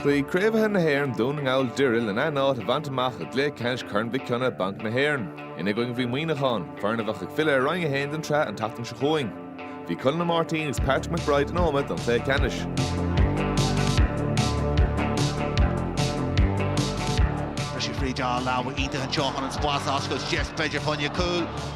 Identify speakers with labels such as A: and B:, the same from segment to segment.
A: Chloígh Craobhacha na hÉireann Dún na nGall Doire lena n-áit a bhaint amach i gcluiche ceannais Chorn Mhic Cionnaith, Banc na hÉireann, ina gcoinne bhí Muineachán, foireann a bheidh ag filleadh ar Roinn 1 den tsraith an tseachtain seo chugainn. Bhí Conall Ó Máirtín agus Patrick McBride in Ómaigh don chluiche ceannais. Tá sé fríd á leabhar íthe an teohann an spás ag oscailt, deis b'fhéidir fá choinne cúil.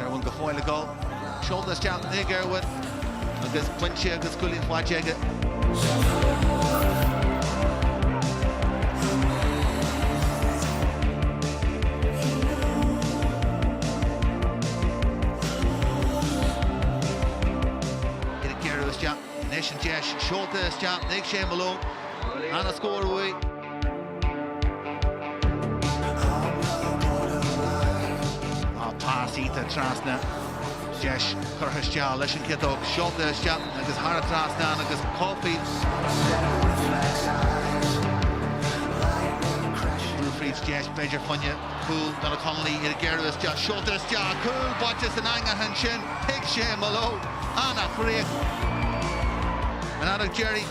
A: Irwin go fóill ag dul. Seolta isteach ag Irwin agus pointe agus cúilín faighte aige. Iad ag gearradh isteach anois an deis. Seolta isteach ag Shea Malone. Ana scór uaidh. Tá pas iata trasna. Deis curtha isteach leis an ciotóg. Seolta isteach agus thar an trasnán agus cobhsaí. Brú fríd deis b'fhéidir fá choinne cúil Donna Connolly iad ag gearradh isteach. Seolta isteach. Cúl báite san eangach ansin ag Shea Malone. Ana-chríoch. An fheadóg deiridh.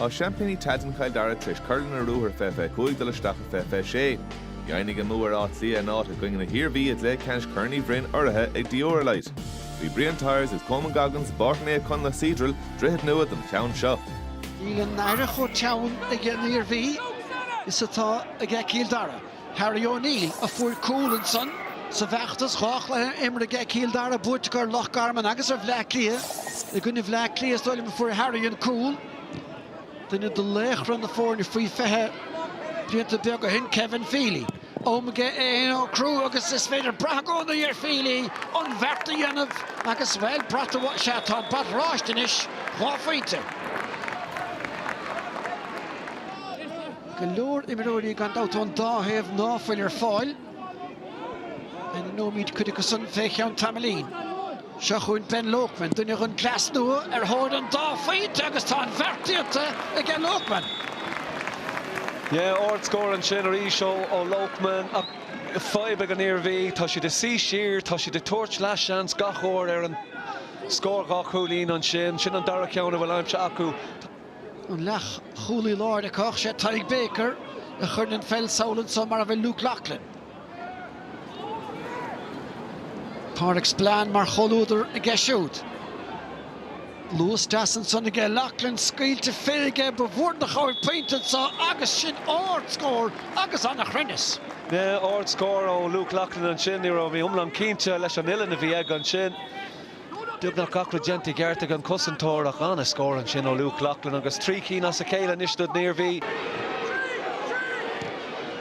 A: Tá seaimpíní Tailteann Chill Dara tar éis cur lena ruathar 2025 ag dul isteach i 2026. Dheimhnigh a mbua ar Áth Cliath a n-áit i gcoinne na hIarmhí i gcluiche ceannais Chorn Uí Bhroin urraithe ag Dioralyte. Bhí Brian Tyers agus Coman Goggins i bPáirc Naomh Conlaith Cedral, Droichead Nua don cheann seo. Níl an fhaire chomh teann ag an Iarmhí is atá ag Cill Dara. Harry O'Neill a fuair cúl ansan sa bhfeachtas dhá chluiche imeartha aige Cill Dara buaiteach ar Loch Garman agus ar Bhleá Cliath. I gcoinne Bhleá Cliath is dóigh liom a fuair Harry an cúl. Duine de laochra na foirne faoi 20 blianta beaga ó shin, Kevin Feely, am aige é fhéin a shocrú agus is féidir brath i gcónaí ar Feely an bheart a dhéanamh agus bhuel, brat, sea tá brat oráiste anois, dhá phointe. Go leor imreoirí gan dabht ón dá thaobh ná fuil ar fáil. Ainmneoimid cuid acu san fé cheann tamaillín. Seo chugainn Ben Loakman, duine den gcleas nua, ar thóir an dá phointe agus tá an bheart déanta aige Loakman. Yeah, ard scór ansin arís ó Loakman ach fadhb ag an Iarmhí, tá siad ag suí siar, tá siad ag tabhairt leath seans gach uair ar an scór dhá chúilín ansin, sin an dara ceann a bhfuil aimsithe acu. An leathchúlaí láir ag caitheamh a sé Tadhg Baker a chuir an pheil sall anso mar a bhfuil Luke Loughlin. Pádraig Spillane mar chomhluadar aige siúd. Luas deas ansan aige Loughlin, scaoilte fé aige, ba mhór an chabhair pointe anso agus sin ard scór agus an-chruinneas. Ard scór ó Luke Loughlin ansin, ní raibh mé iomlán cinnte leis an uillinn a bhí aige ansin. Beagnach gach rud déanta i gceart ag an cosantóir ach an-scór ansin ó Luke Loughlin agus trí cinn as a chéile anois don Iarmhí.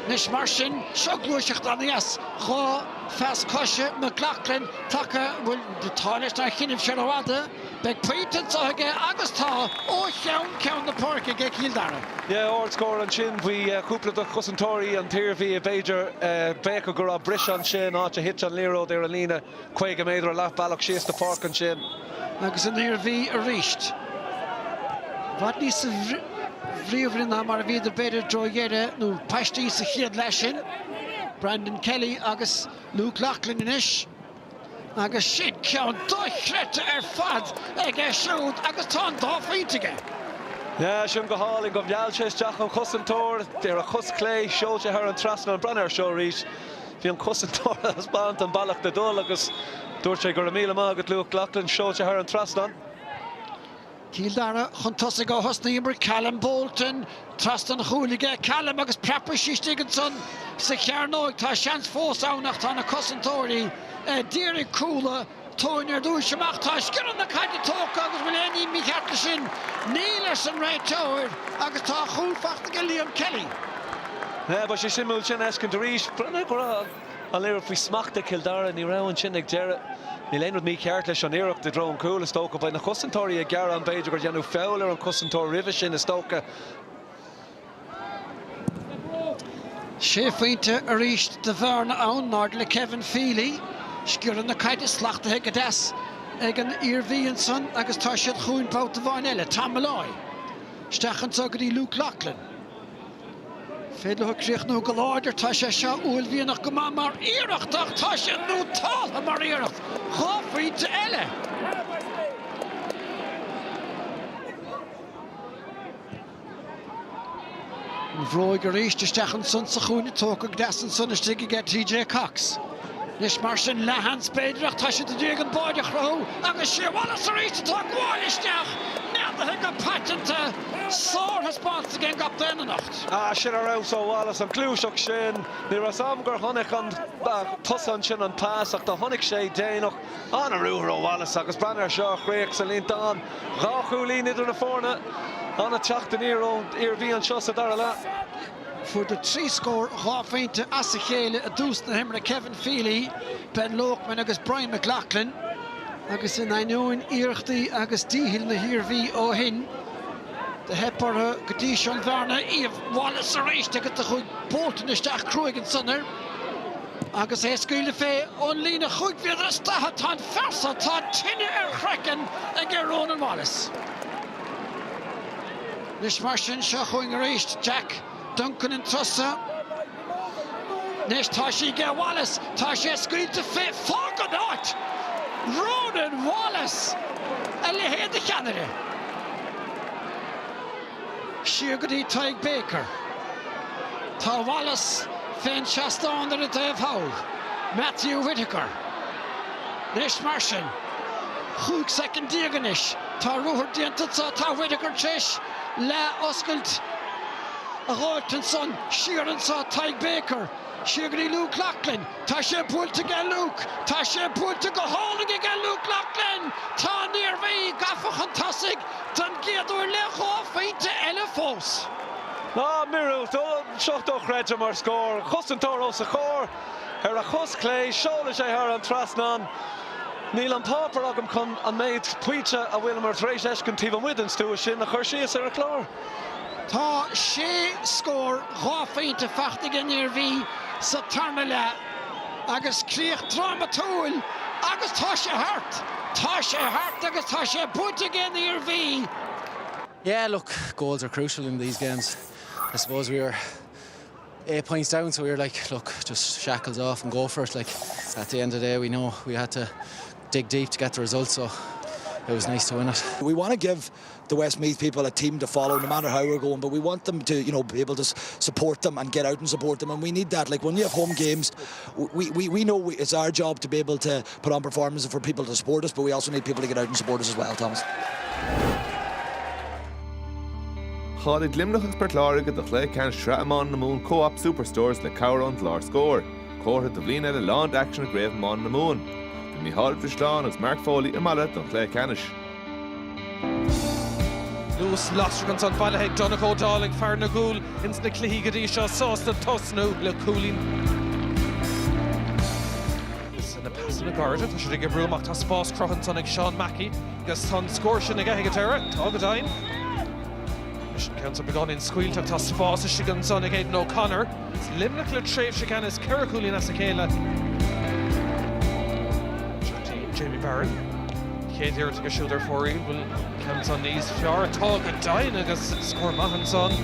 A: Anois mar sin, seo gluaiseacht aníos dhá phas coise McLoughlin tagtha, bhuel tá leis nár choinnibh sé rófhada, beidh pointe anseo aige agus tá, ó cheann ceann na páirce aige Cill Dara. Yeah, ardscór ansin bhí cúpla de chosantóirí an tIarmhí, b'fhéidir. D'fhéadfadh go raibh briseadh ansin, áit a thit an liathróid ar an líne. 50 méadar leathbhealach síos an pháirc ansin. Agus an Iarmhí arís. I bhfad níosa bhríomhaire ná mar a bhíodar b'fhéidir i dtreo dheireadh nó paistí sa chéad leath sin. Brandon Kelly agus Luke Loughlin anois. Agus sin ceann dochreidte ar fad aige siúd agus tá an dá phointe aige. Yeah, sin go hálainn. Do mheall sé isteach an chosantóir ar a chos chlé, seol sé thar an trasnán. Breathnaigh ar seo arís. Bhí an cosantóir ag taispeáint an bealach le dul agus dúirt sé, 'Go raibh míle maith agat, Luke Loughlin', seolta thar an trasnán. Cill Dara chun tosaigh ó thús na himeartha Callum Bolton, trasna an chúil aige Callum agus preabfaidh sí istigh ansan sa chearnóig. Tá seans fós ann ach tá na cosantóirí a d'iarraidh cúl a. Tóin ar dtúis amach, tá sciorradh na caide tógtha agus bhfuil aon ní mícheart leis sin? Níl, arsa an réiteoir agus tá a chúl faighte aige Liam Kelly. Bheadh sé suimiúil sin a fheiscint arís. Bhreathnaigh go raibh an liathróid faoi smacht ag Cill Dara. Ní raibh ansin ag deireadh. Níl aon rud mícheart leis an iarracht i dtreo an chúil, is dócha. Beidh na cosantóirí ag gearán b'fhéidir gur deineadh feall ar an chosantóir roimhe sin, is dócha. Sé phointe arís de bhearna ann, in airde le Kevin Feely. Sciorradh na caide slachtaithe go deas ag an Iarmhí ansan agus tá siad chugainn babhta amháin eile. Tom Molloy. Isteach anso go dtí Luke Loughlin. Féidir leo críochnú go láidir. Tá sé seo uaillmhianach go maith mar iarracht ach tá siad nótáltha mar iarracht. Dhá phointe eile. An bhróig arís, isteach ansan sa chúinne tógtha go deas ansan istigh aige TJ Cox. Anois mar sin leathsheans b'fhéidir ach tá siad i ndiaidh an báire a chruthú agus is é Wallace arís atá ag gabháil isteach, neadaithe go paiteanta. Sárthaispeántas ag an gcaptaen anocht. Ah, sin ar fheabhas ó Wallace, an gluaiseacht sin. Ní raibh 's 'am gur chonaic ón tús ansin an pas ach do chonaic sé déanach. An-ruathar ó Wallace agus Banner seo a chríoch sa líontán dhá chúilín idir na foirne. An-teacht aniar ón Iarmhí anseo sa dara leath. Fuaireadar trí scór dhá phointe as a chéile i dtús na himeartha, Kevin Feely, Ben Loakman agus Brian McLoughlin, agus in ainneoin iarrachtaí agus díchill na hIarmhí ó shin, do theip orthu go dtí seo an bhearna a iamh. Wallace arís agus do chuaigh Bolton isteach cruaidh ansan air. Agus é ag scaoileadh fé ón líne chúig mhéadar is daichead, tá an fear seo atá tine ar a chraiceann aige, Rónán Wallace. Anois mar sin, seo chugainn arís Jack Duncan an treo seo. Anois tá sé ag Wallace, tá sé scaoilte fé. Fág an áit! Rónán Wallace! A leithéid de cheannaire! Siar go dtí Tadhg Baker. Tá Wallace fén seastán ar an dtaobh thall, Matthew Whitaker. Anois mar sin, chúig soicind déag anois, tá ruathar déanta acu, tá Whitaker t'réis leath-oscailt a ghabhailt ansan, siar anso Tadhg Baker, Siar go dtí Luke Loughlin, Tá sé buailte aige Luke, tá sé buailte go hálainn aige Luke Loughlin! Tá an Iarmhí gafa chun tosaigh don gcéad uair le dhá phointeoir eile fós. Ná miorúilt ó seo dochreidte mar scór, cosantóir os a chomhair, ar a chos chlé, seolann sé thar an trasnán. Níl an páipéar agam chun an méid pointe a bhfuileamar tar éis fheiscint taobh amuigh den stua sin a chur síos ar an chlár. Tá sé scór dhá phointe faighte ag an Iarmhí sa tarna leath agus críoch drámatúil agus tá sé thart! Tá sé thart agus tá sé buaite ag an Iarmhí! Yeah look goals are crucial in these games I suppose we were eight points down so we were like look just shackles off and go for it like at the end of the day we know we had to dig deep to get the result so it was nice to win it. We want to give the Westmeath people a team to follow, no matter how we're going, but we want them to, you know, be able to support them and get out and support them and we need that, like when we have home games, we we we know it's our job to be able to put on performances for people to support us, but we also need people to get out and support us as well, Thomas. Cháiligh Luimneach agus Port Láirge do Chlaí Ceann Sraith Iomána na Mumhan Co-op Superstores le cabhair ón gclár Scór. Comhartha do bhliain eile lán d'aicsean i gCraobh Iomána na Mumhan. Bhí Micheál Bhrislán agus Mark Foley i mbaile don Chlaí Ceannais. Luas lasrach ansan bailithe ag Donnacha Ó Dálaigh, fear na gcúl, ins na cluichí go dtí seo, sásta tosnú le cúilín na pasanna gairide tá siad ag oibriú amach, tá spás crutha ansan ag Seán Mackey agus tá an scór sin aige sa deireadh, tá go deimhin. Sin ceann atá beagáinín scaoilte ach tá spás istigh ansan ag Aidan O'Connor. Luimneach le tréimhse ceannais ceithre chúilín as a chéile. Jamie Barron, chéad iarracht aige siúd ar fóraoil, an bhfuil an ceann san níos fearr, tá go deimhin, agus scór maith ansan.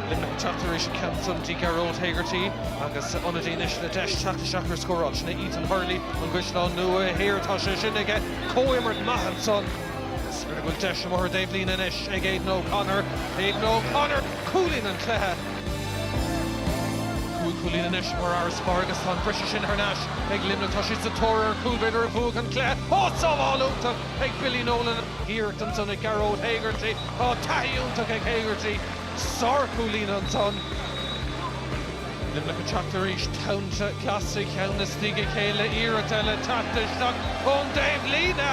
A: Luimneach ag teacht tar éis an ceann san go dtí Gearóid Hegarty agus ionadaí anois le deis teacht isteach ar an scóráil, sin é Ethan Hurley, An Caisleán Nua Thiar, tá sé sin aige, comhimirt maith ansan. Is minic go bhfuil deis ón dtaobhlíne anois ag Aidan O'Connor. Aidan O'Connor, cúilín an chluiche. Cúig chúilín anois mar fharasbarr agus tá an briseadh sin thar n-ais ag Luimneach. Tá siad sa tóir ar an chúl b'fhéidir a bhuafadh an cluiche. Á, sábháil iontach ag Billy Nolan. Iarracht ansan ag Gearóid Hegarty. Tá taithí iontach ag Hegarty. Sár-chúilín ansan. Luimneach ag teacht arís. Tá an-chluiche againn istigh ag a chéile. Iarracht eile teacht isteach ón dtaobh líne.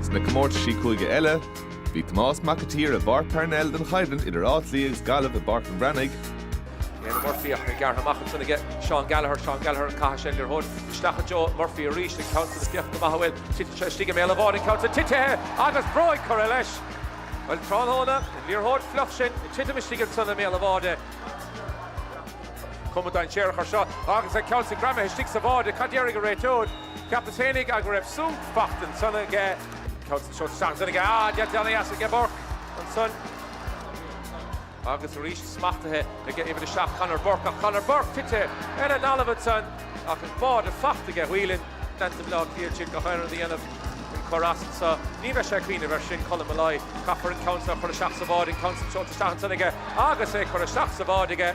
A: Ins na comórtaisí cúige eile, bhí Tomás Mac a tSaoir i bPáirc Parnell don choimhlint idir Áth Cliath agus Gaillimh i mbabhta an Bhreathnaigh. Éanna Murphy ach é gearrtha amach ansin aige Seán Gallagher, Seán Gallagher an caithfidh sé an liathróid isteach go deo, Murphy arís an ceann san is féach cá bhfuil titeann sé istigh i mbéal an bháid an ceann san titithe agus bróg curtha leis. Bhuel tráthnóna an liathróid fliuch sin ag titim istigh ansan i mbéal an bháid. Cuma dainséarach ar seo agus an ceann san greamaithe istigh sa bhád, cad déarfaidh an réiteoir? Ceapas féin aige go raibh sub ag teacht ansan aige. Ceud seo teach ansan aige a' dealt déanai dheas aige Burke ansan. Agus aríst smachtaithe aige uimhir a seacht Conor Burke ach Conor Burke tite ar an dtalamh ansan ach an bál fachta aige Whelan deanta Bleá Cliath trid go hÉireann a dhéanamh an córas anso. Ní bheidh sé a' cuimhneamh ar sin Colm Molloy. Caithfear an ceann so a chur isteach sa bhád an ceann san seolta isteach ansan aige agus é curtha isteach sa bhád aige.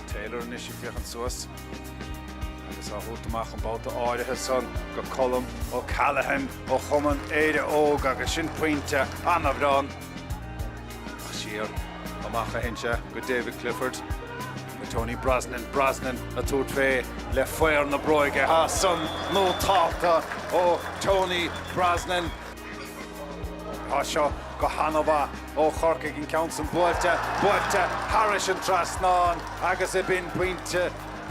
A: Taylor anois ag féachaint suas agus á thabhairt amach an babhta áirithe san go Colm O'Callaghan ó chumann Éire Óg agus sin pointe an-bhreá ann ach siar amach a théann sé go David Clifford go Tony Brosnan, Brosnan a tabhairt fé le faor na bróige, tá san nótálta ó Tony Brosnan. Tá seo go han-mhaith ó Chorcaigh, an ceann san buailte, buailte thairis an trasnán agus aimsíonn pointe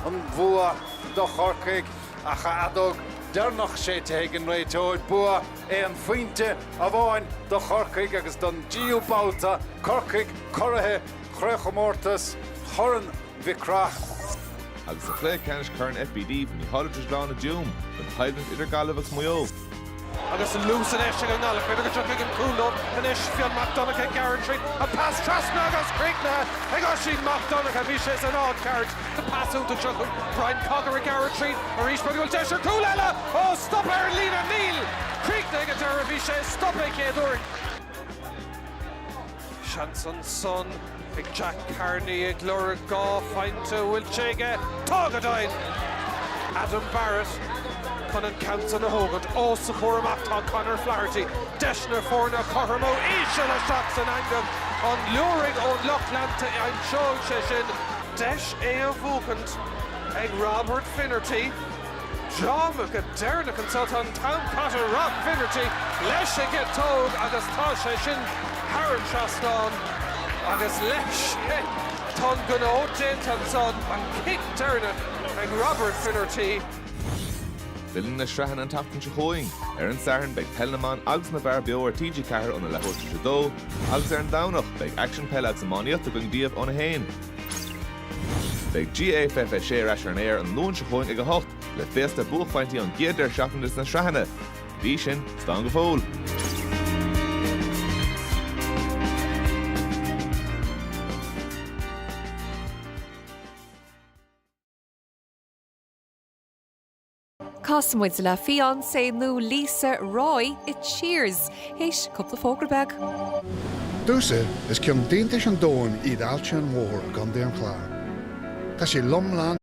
A: an bhua do Chorcaigh agus an fheadóg deireanach séidte ag an réiteoir. Bua aon phointe amháin do Chorcaigh agus don deichiú babhta, Corcaigh curaithe Chraobhchomórtas Chorn Mhic Craith. Agus i gcluiche ceannais Corn FBD bhí an-slua i dTuaim don choimhlint idir Gaillimh agus Maigh Eo. Agus an luas anois ag an nGallchóireach, b'fhéidir go dtí an cúlóir anois Fionn Mac Donncha, ag gearradh tríd, an pas trasna agus críochnaithe ag Oisín Mac Donncha, bhí sé san áit cheart agus pas iontach seo chuig Brian Cogher ag gearradh tríd arís, an bhfuil deis ar chúl eile, ó stoptha ar an líne, níl! Críochnaithe ag an deireadh, bhí sé stoptha an chéad uair. Seans ansan ag Jack Carney ag lorg dhá phointe an bhfuil sé aige. Tá go deimhin! Adam Barrett chun an ceann san a thógaint. Ó, sa chúl amach tá Conor Flaherty. Deis na foirne a chothromú. Íseal isteach san eangaigh an liúireach ón lucht leanta. Anois ar deireadh deis é a bhuachaint ag Robert Finnerty. Dráma go deireadh anseo tá an t-am caite Rob Finnerty leis an gciotóg agus tá sé sin thar an trasnán agus leis sin tá an gnó déanta anseo an cic deireanach ag Robert Finnerty. Filleann na sraitheanna an tseachtain seo chugainn. Ar an Satharn beidh Peil na mBan agus na bhFear beo ar TG4 óna leath tar éis a dó agus ar an Domhnach beidh aicsean peile agus iománaíochta againn daoibh óna haon. Beidh GAA Fiche Sé ar ais ar an aer an Luan seo chugainn ag a hocht, le féasta buaicphointí ón gcéad deireadh seachtaine de na sraitheanna. Go dtí sin, slán go fóill! Casfaidh muid le fiancé nua Lisa, Roy, i Cheers théis cúpla fógra beag. Dúsa, is ceann d'iontais an domhain iad Aillte an Mhothair i gContae an Chláir. Tá sé lom lán.